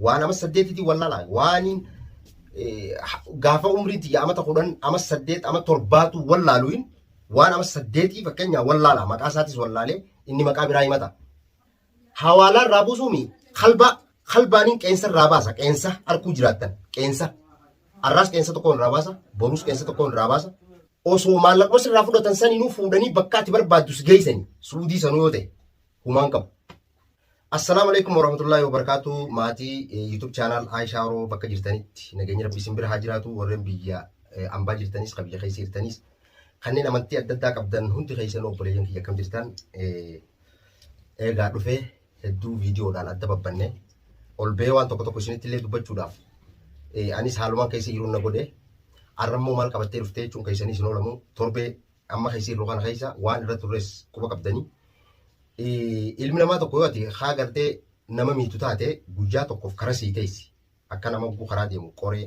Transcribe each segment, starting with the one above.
Waan amas saddeetitii wallaalaa waaniin gaafa umriin tiyya amata kudhan amas saddeet ama torbaatu wallaaluun waan amas saddeetii fakkeenyaa wallaalaa maqaa isaatis wallaalee inni maqaa biraa himata. Hawaalaa irraa buusuumi kalbaa kalbaaniin qeensa irraa baasa qeensa harkuu jiraattan qeensa har'aas qeensa tokkoon irraa baasa boruus qeensa tokkoon irraa baasa osoo maallaquma sirraa fudhatan saninuu fuudhanii bakkaatti barbaaddu si geessanii suudii sanuu yoo ta'e humaan qabu. Assalaamu alaikum warahmatullahi wabarakatuh maatii eh, YouTube channel Aishaa Oro bakka jirtanitti nageenyi rabbi isin bira haa jiraatu warreen biyya eh, ambaa jirtanis kan biyya keessa jirtanis kanneen amantii adda addaa qabdan hundi keessan obboleeyyan kiyya akkam jirtan eh, eegaa dhufee hedduu viidiyoodhaan adda babbanne ol ba'ee waan tokko tokko isinitti illee dubbachuudhaaf eh, anis haalumaan keessa jiruun na godhe arrammoo maal qabattee dhuftee jechuun keessanii isin oolamu torbee amma keessa jirru kana keessa waan irra turres quba qabdanii ilmi namaa tokko yoo ati haa gartee nama miitu taate guyyaa tokkoof karaa sii teessi akka nama guguu karaa deemu qoree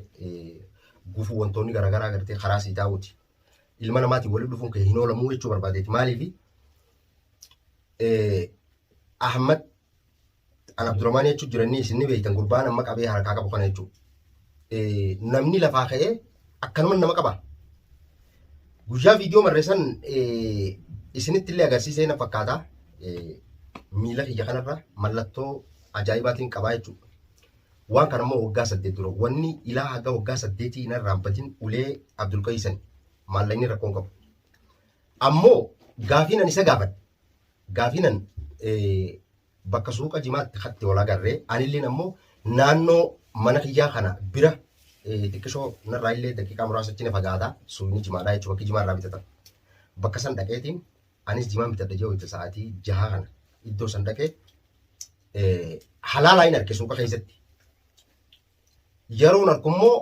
gufuu wantoonni garaagaraa gartee karaa sii taa'uuti ilma namaatiin walitti dhufuun kee hin oolamuu jechuu barbaadeeti maaliifi Ahmad an Abdurrahmaan jechuun jiranii isin ni beektan gurbaan amma qabee harkaa qabu kana jechuudha. Namni lafaa ka'ee akkanuma nama qaba. Guyyaa viidiyoo marreessan isinitti illee agarsiisee na fakkaata. Miila kiyya kanarra mallattoo ajaa'ibaatiin qabaa jechuudha. Waan kana immoo waggaa saddeet dura wanni ilaa haga waggaa saddeetii hin irraanfatin ulee Abdulqayisan maallaqni rakkoon qabu. Ammoo gaafiin ani isa gaafadhe Gaafiinan bakka suuqa jimaatti katti wal agarree anilleen ammoo naannoo mana kiyyaa kana bira xiqqishoo narraa illee daqiiqaa muraasa achi na fagaata suuyni jimaadhaa jechuudha bakki jimaa irraa bitatan. Bakka san dhaqeetiin anis jimaan bitadha jee wayita sa'aatii jahaa kana iddoo san dhaqee halaalaa hin arge suuqa keessatti. Yeroon arku immoo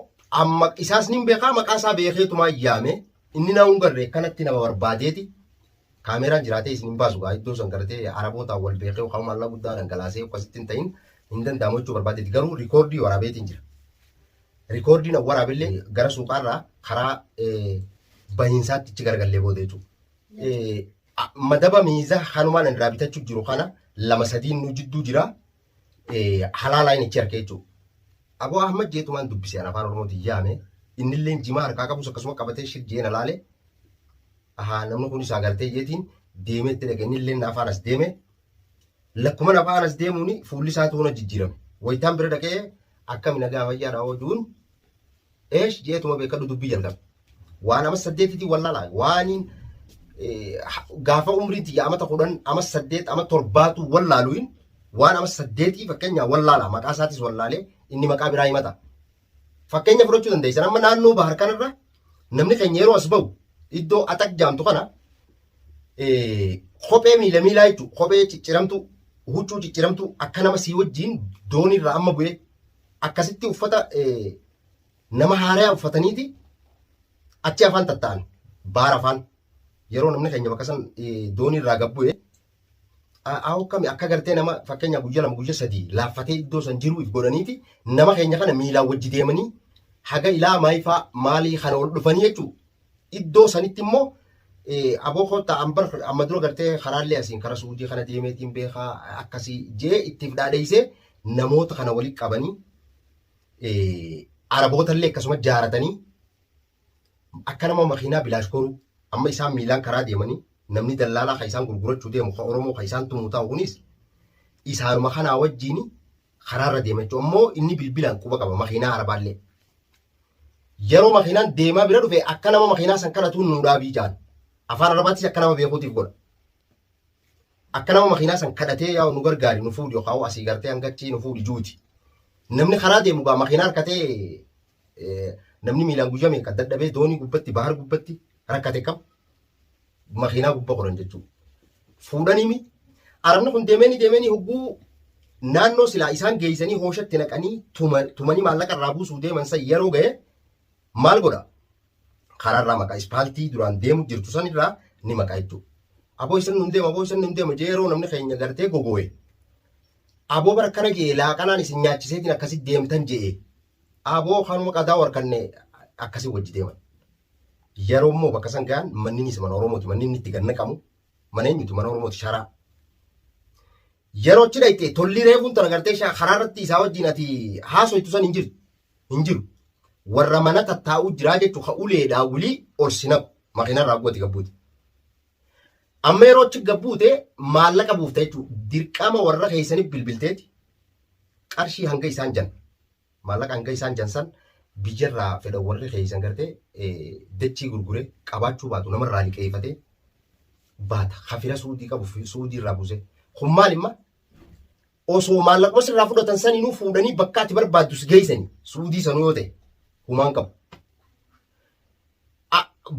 amma isaas ni beekaa maqaa isaa beekeetumaa yaame inni na hin garre kanatti nama barbaadeeti. Kaameraan jiraatee isin hin baasu gaa iddoo san gartee arabootaan wal beekee yookaan maallaa guddaa dhangalaasee akkasitti hin ta'in hin danda'amu jechuu barbaadeeti garuu rikoordii waraabeetiin jira. Rikoordiin waraabillee gara suuqaarraa karaa bahiinsaatti itti gargallee booda jechuudha. Madaba miizaa hanumaan irraa bitachuu jiru kana lama sadiin nu jidduu jira. halaalaa inni ichi harkee jechuudha. Aboo Ahmad jeetumaan dubbise an afaan Oromootiin yaame innilleen jimaa harkaa qabus akkasuma qabatee shir jeena laale ahaa namni kun isaa galtee jeetiin deemee itti dhaqe innilleen na afaan as deeme lakkuma na afaan as deemuun fuulli isaa toona jijjiirame wayitaan bira dhaqee akkami nagaa fayyaadha oduun Eesh jeetuma beekadhu dubbii jalqabe. Waan amas saddeetitii wallaala. Waaniin gaafa umriin tiyya amata kudhan amas saddeet ama torbaatu wallaaluun waan amas saddeetii fakkeenyaa wallaala. Maqaa isaatis wallaalee inni maqaa biraa himata. Fakkeenya fudhachuu dandeessan amma naannoo bahar kanarra namni keenya yeroo as bahu iddoo atak jaamtu kana kophee miila miilaa jechuudha. Kophee cicciramtu, huccuu cicciramtu akka nama sii wajjin dooniirraa amma bu'ee akkasitti uffata nama haarayaa uffataniiti achi afaan tatta'an baara afaan yeroo namni keenya bakka san doonii irraa gabbu'e aawoo kami akka gartee nama fakkeenya guyya lama guyya sadii laaffatee iddoo san jiruuf godhaniiti nama keenya kana miilaan wajji deemanii haga ilaa maayifaa maalii kana ol dhufanii jechuudha. Iddoo sanitti immoo aboo koottaa ambar amma dura gartee karaallee asiin kara suudii kana deemeetiin beekaa akkasii jee ittiif dhaadheessee namoota kana walitti qabanii arabootallee akkasuma jaaratanii akka nama makiinaa bilaash koruu amma isaan miilaan karaa deemanii namni dallaalaa kan isaan gurgurachuu deemu kan Oromoo kan isaan tumu taa'u kunis isaanuma kanaa wajjin karaarra deema jechuun ammoo inni bilbilaan quba qaba makiinaa arabaallee. Yeroo makiinaan deemaa bira dhufe akka nama makiinaa san kadhatuun nuu dhaabii jaan. Afaan arabaattis akka nama beekuutiif godha. Akka nama makiinaa san kadhatee yaa nu gargaari nu fuudhi yookaan asii gartee hanga achii nu fuudhi juuti. Namni karaa deemu gaa makiinaa harkatee namni miilaan guyyaa meeqa dadhabee doonii gubbatti bahar gubbatti rakkate qabu. makiinaa gubba koran jechuudha. Fuudhanimi arabni kun deemanii deemanii hogguu naannoo silaa isaan geessanii hooshatti naqanii tumanii maallaqa irraa buusuu deeman san yeroo ga'e maal godha? Karaarraa maqaa ispaaltii duraan deemu jirtu san irraa ni maqaa jechuudha. Aboo isin nun deema, aboo isin nun deema jee yeroo namni keenya gartee gogooye. Aboo bara kana ga'e laaqanaan isin nyaachiseetiin akkasitti deemtan je'e. Aboo kanuma qadaa warkanne akkasii wajji deeman. Yeroo immoo bakka san gahan manninis mana Oromooti. Manni inni itti gad naqamu mana eenyuti? Mana Oromooti sharaa. Yeroo achi dhayxee tollii reefuun tana gartee shaa karaa irratti isaa wajjin ati haasoytu san hin jiru. Hin jiru. Warra mana tattaa'uu jiraa jechuu ka uleedhaa wulii ol si naqu. Makiina irraa guwati gabbuuti. Amma yeroo achi gabbuute maallaqa buufta jechuudha. Dirqama warra keessaniif bilbilteeti qarshii hanga isaan jan Maallaqa hanga isaan jan san biyyarraa fedhan warri keessan gartee dachii gurgure qabaachuu baatu namarraa liqeeffatee baata. Hafira suudii qabu suudii irraa buuse. Kun maal imma? Osoo maallaquma sirraa fudhatan saninuu fuudhanii bakka ati barbaaddu si geessanii suudii sanuu yoo ta'e humaan qabu.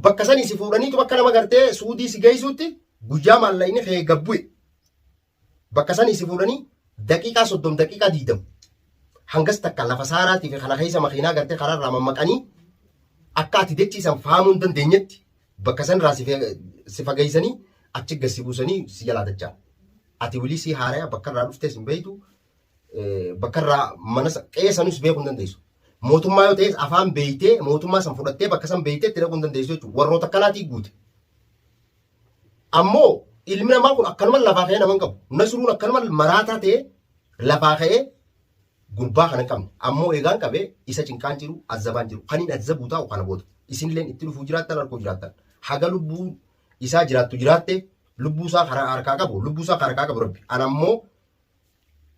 Bakka sanii si fuudhaniitu bakka nama gartee suudii si geessuutti guyyaa maallaqni kee gabbu'e. bakka sanii si fuudhanii daqiiqaa soddom daqiiqaa diidam hangas takka lafa saaraatii fi kana keessa makiinaa gartee karaa irraa mammaqanii akka ati dechiisan faamuu hin dandeenyetti bakka san irraa si fageessanii achi gad si buusanii si jalaa dachaa. Ati wilii si haaraya bakka irraa dhuftees hin beektu bakka irraa mana qeessanis beekuu hin dandeessu. Mootummaa yoo ta'es afaan beektee mootummaa san fudhattee bakka san beektee itti dhaquu hin dandeessu jechuudha. Warroota akkanaatii guute. Ammoo ilmi namaa kun akkanuma lafaa ka'ee nama hin qabu. Nasruun akkanuma maraataa ta'ee lafaa ka'ee gurbaa kana hin qabne. Ammoo eegaan qabee isa cinqaan jiru azzabaan jiru. Kan hin azzabuu taa'u kana booda. Isinilleen itti dhufuu jiraattan harkuu jiraattan. Haga lubbuu isaa jiraattu jiraatte lubbuu isaa karaa harkaa qabu lubbuu isaa karaa harkaa qabu rabbi. An ammoo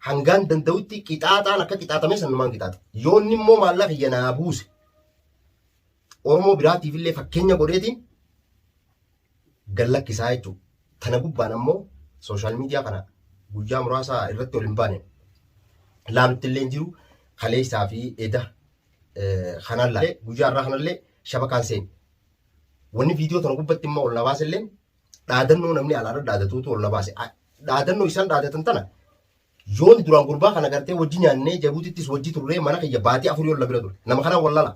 hangaan danda'utti qixaaxaan akka qixaatamee sanumaan qixaata. Yoonni immoo maallaqa kiyya naa buuse. Oromoo biraatiif illee fakkeenya godheetiin gad lakkisaa jechuudha. Tana gubbaan ammoo sooshaal miidiyaa kana guyyaa muraasaa irratti ol hin baane laalutti illee hin jiru kaleessaa fi eda kanaan laalee guyyaa irraa kanallee shabakaan seeni. Wanni viidiyoo tana gubbatti immoo ol na baase illee dhaadannoo namni alaarra dhaadatuutu ol na baase. Dhaadannoo isaan dhaadatan tana Yoon duraan gurbaa kana gartee wajji nyaannee Jabuutittis wajji turree mana kiyya baatii afurii ol na bira ture. Nama kanaan wallala.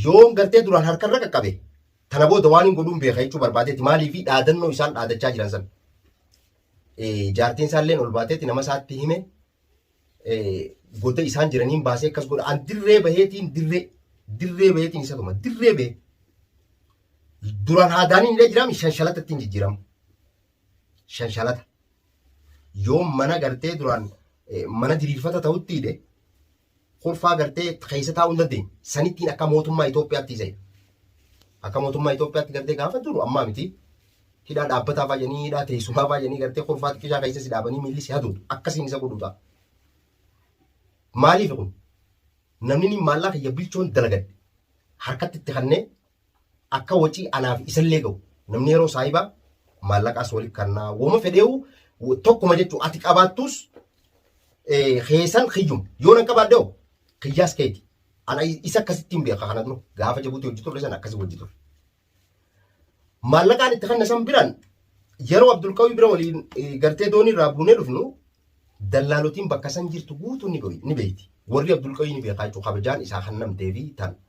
Yoon gartee duraan harkarra qaqqabe tana booda waan hin godhuun beeka jechuu barbaadeeti maaliifi dhaadannoo isaan dhaadachaa jiran san. Jaartiin isaalleen ol baateeti nama isaatti hime goda isaan jiraniin baasee akkas godha. An dirree baheetiin dirree dirree baheetiin isa tuma dirree bahee. Duraan haadaaniin illee jiraami shanshalata ittiin jijjiirama. shanshalata yoo mana gartee duraan eh, mana diriirfata ta'utti hidhe kurfaa gartee keessa taa'uu hin dandeenye sanittiin akka mootummaa Itoophiyaatti isa hidhe. akka mootummaa Itoophiyaatti gartee gaafa duru ammaa miti hidhaa dhaabbataa fayyanii hidhaa teessumaa fayyanii gartee kurfaa xiqqishaa keessa si dhaabanii miilli si haduutu akkasiin isa godhuuta. Maaliif kun namni inni maallaa kiyya bilchoon dalagadhe harkatti itti kannee akka wacii anaaf isallee ga'u namni yeroo saahiba maallaqaas waliif kannaa woma fedheewu tokkuma jechuu ati qabaattus keessan kiyyum yoo nan qabaadde hoo kiyyaas keeti ana isa akkasitti hin beeka kana dura gaafa jabuuti hojii turre san akkasii hojii turre. Maallaqaan itti kanna san biraan yeroo Abdulqawii bira waliin gartee doonii irraa buunee dhufnu dallaalotiin bakka san jirtu guutuu ni beekti. Warri Abdulqawii ni beekaa jechuudha kabajaan isaa kan namtee fi tan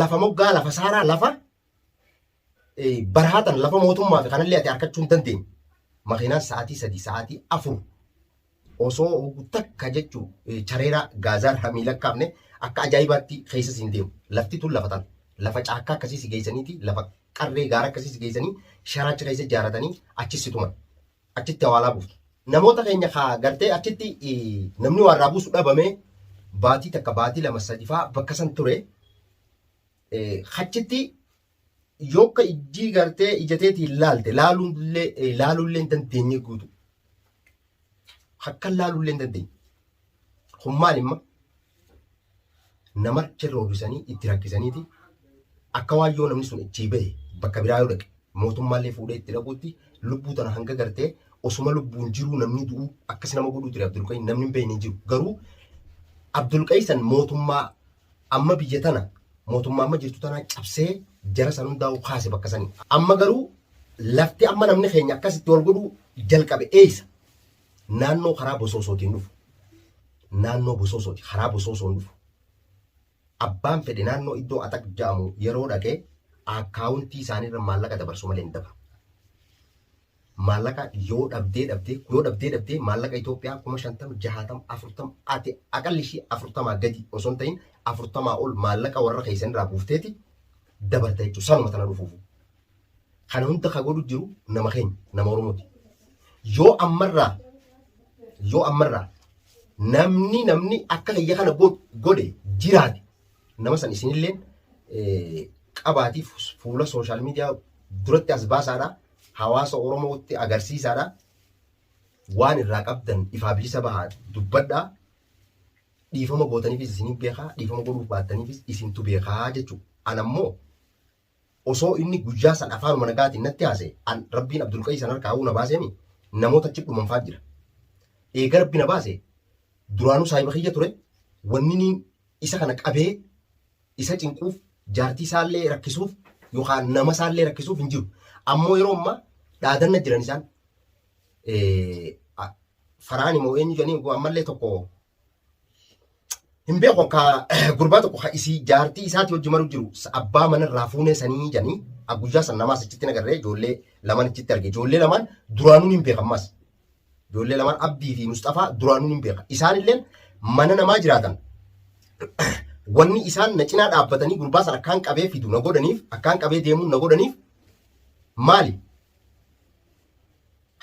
lafa moggaa lafa saaraa lafa barhaatan lafa mootummaa fi kanallee ati harkachuu hin dandeenye. Makiinaan sa'aatii sadii sa'aatii afur osoo takka jechuun chareeraa gaazaan hamii lakkaa'amne akka ajaa'ibaatti keessa siin deemu. Lafti tun lafa tan lafa caakkaa akkasii si geessaniiti lafa qarree gaara akkasii si geessanii sharaacha keessa ijaaratanii achi si tuman. achitti awaalaa buufna. Namoota keenya kaa gartee achitti namni waa irraa buusu dhabame baatii takka baatii lama sadi faa bakka san ture achitti yokka ijjii gartee ijateetiin laalte laalullee laalullee hin dandeenye guutu. Akkan laalullee hin dandeenye. Kun maal imma nama achirra hojisanii itti rakkisaniiti akka waan yoo namni sun achii bahe bakka biraa yoo dhaqe mootummaallee fuudhee itti dhaquutti lubbuu tana hanga gartee osuma lubbuun jiruu namni du'u akkas nama godhuu ture Abdulqayyi namni hin beekne hin jiru garuu Abdulqayyi san mootummaa amma biyya tana mootummaa amma jirtu tanaa cabsee jara san hundaa'u kaase bakka sanii amma garuu lafti amma namni keenya akkasitti wal godhuu jalqabe eeysa naannoo karaa bosoosootiin dhufu naannoo bosoosooti karaa bosoosoon dhufu abbaan fedhe naannoo iddoo axaq ja'amu yeroo dhaqe akkaawuntii isaaniirra maallaqa dabarsu malee hin dabru. Maallaqa yoo dhabdee dhabdee yoo dhabdee dhabdee maallaqa Itoophiyaa kuma shantama jahaatama afurtama ati aqalli ishii afurtamaa gadi osoo hin ta'in afurtamaa ol maallaqa warra keessanirraa buufteeti dabarta jechuudha sanuma tana dhufuufu. Kana hunda ka godhu jiru nama keenya, nama Oromooti. Yoo ammarraa, yoo ammarraa namni namni akka kiyya kana go- godhe jiraate nama san isinilleen eh, qabaatiif fuula sooshaal miidiyaa duratti as baasaadha. Hawaasa Oromootti agarsiisaadha. Waan irraa qabdan ifaa bilisa bahaa dubbadhaa. Dhiifama gootaniifis isin beekaa, dhiifama godhuuf baattaniifis isintu beekaa jechuudha. Anammoo Osoo inni guyyaa san afaanuma nagaatiin natti haasa'e, an Rabbiin Abdulqayyi san harkaahuu na baaseemi, namoota achi dhuman fa'aa jira. Eega Rabbi na baase, duraanuu saahiba kiyya ture, wanniniin isa kana qabee isa cinquuf, jaartii isaallee rakkisuuf yookaan nama isaallee rakkisuuf hin jiru. Ammoo yeroo ammaa dhaadanna jiran isaan. Faraani moo eenyu jedhanii ammallee tokko hin beeku ka gurbaa tokko ka isii jaartii isaati hojii maru jiru sa- abbaa mana irraa fuunee sanii janii a guyyaa san namaas achitti nagarree ijoollee lamaan achitti arge ijoollee lamaan duraanuun hin beekan maas ijoollee lamaan abdii fi musxafaa duraanuun hin beekan isaan illee mana namaa jiraatan wanni isaan na cinaa dhaabbatanii gurbaa san akkaan qabee fidu na godhaniif akkaan qabee deemuun na godhaniif maali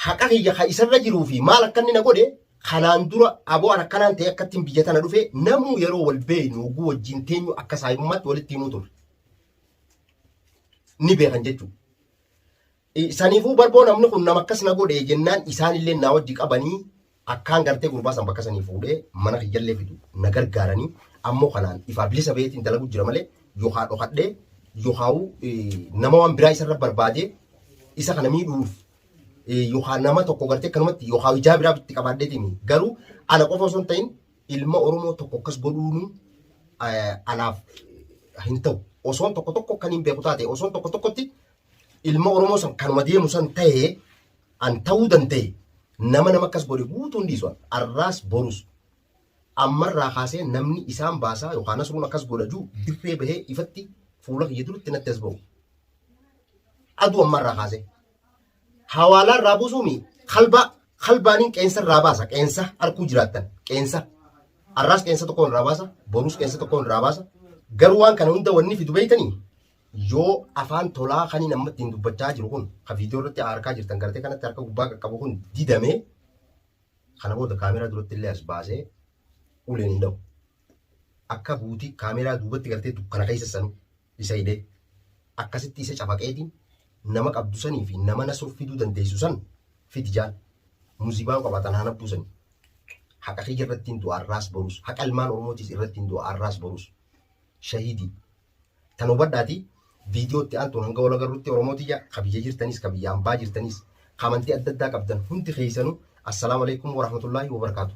haqa kiyya ka isarra jiruu fi maal akka inni na godhe kanaan dura aboo an akkanaan ta'e akka ittiin biyya tana dhufe namuu yeroo wal beeynu oguu wajjin teenyu akka saahibummaatti walitti himuu turre. Ni beekan jechuudha. Saniifuu barboo namni kun nama akkas na godhe jennaan isaanillee naa wajji qabanii Akkaan gartee gurbaa san bakka sanii fuudhee mana kiyyallee fidu na gargaaranii ammoo kanaan ifaa bilisa baheetiin dalagu jira malee yokaa dhokadhee yokaa'u nama waan biraa isarra barbaadee isa kana miidhuuf yokaa nama tokko gartee kanumatti yokaa ijaa biraa bitti qabaadheetiin garuu ana qofa osoo hin ta'in ilma Oromoo tokko akkas godhuun anaaf hin ta'u. Osoon tokko tokko kan hin beeku taate osoon tokko tokkotti ilma Oromoo san kanuma deemu san ta'ee An ta'uu danda'e nama nama akkas godhe guutuu hin dhiisu an. Arraas borus. Ammarraa kaasee namni isaan baasaa yookaan Nasruun akkas godha juu dirree bahee ifatti fuula kiyya duratti natti as ba'u. Aduu ammarraa kaasee. Hawaalaa irraa buusuu mi kalbaa kalbaaniin qeensa irraa baasa qeensa harkuu jiraattan qeensa. Arraas qeensa tokkoon irraa baasa borus qeensa tokkoon irraa baasa. Garuu waan kana hunda wanni fidu beeytanii yoo afaan tolaa kaniin amma ittiin dubbachaa jiru kun ka viidiyoo irratti harkaa jirtan gartee kanatti harka gubbaa qaqqabu kun didamee kana booda kaameraa duratti illee as baasee uleen hin dhahu. Akka buutii kaameraa duubatti gartee dukkana keessa sanu isa hidhee akkasitti isa cafaqeetiin nama qabdu sanii fi nama na soffiduu dandeessu san fidi jaan muzibaan qabatan haa nabbuu sanii. Haqa kiyya irratti hin du'a arraas borus haqa ilmaan oromootiis irratti hin du'a arraas borus shahidii. Tan hubadhaati viidiyoo itti aantuun hanga wal agarrutti Oromoo tiyya ka biyya jirtanis ka biyya ambaa jirtanis ka amantii adda addaa qabdan hundi keessanuu Assalaamu Aleykum Warahmatullaahi Wabarakaatuh.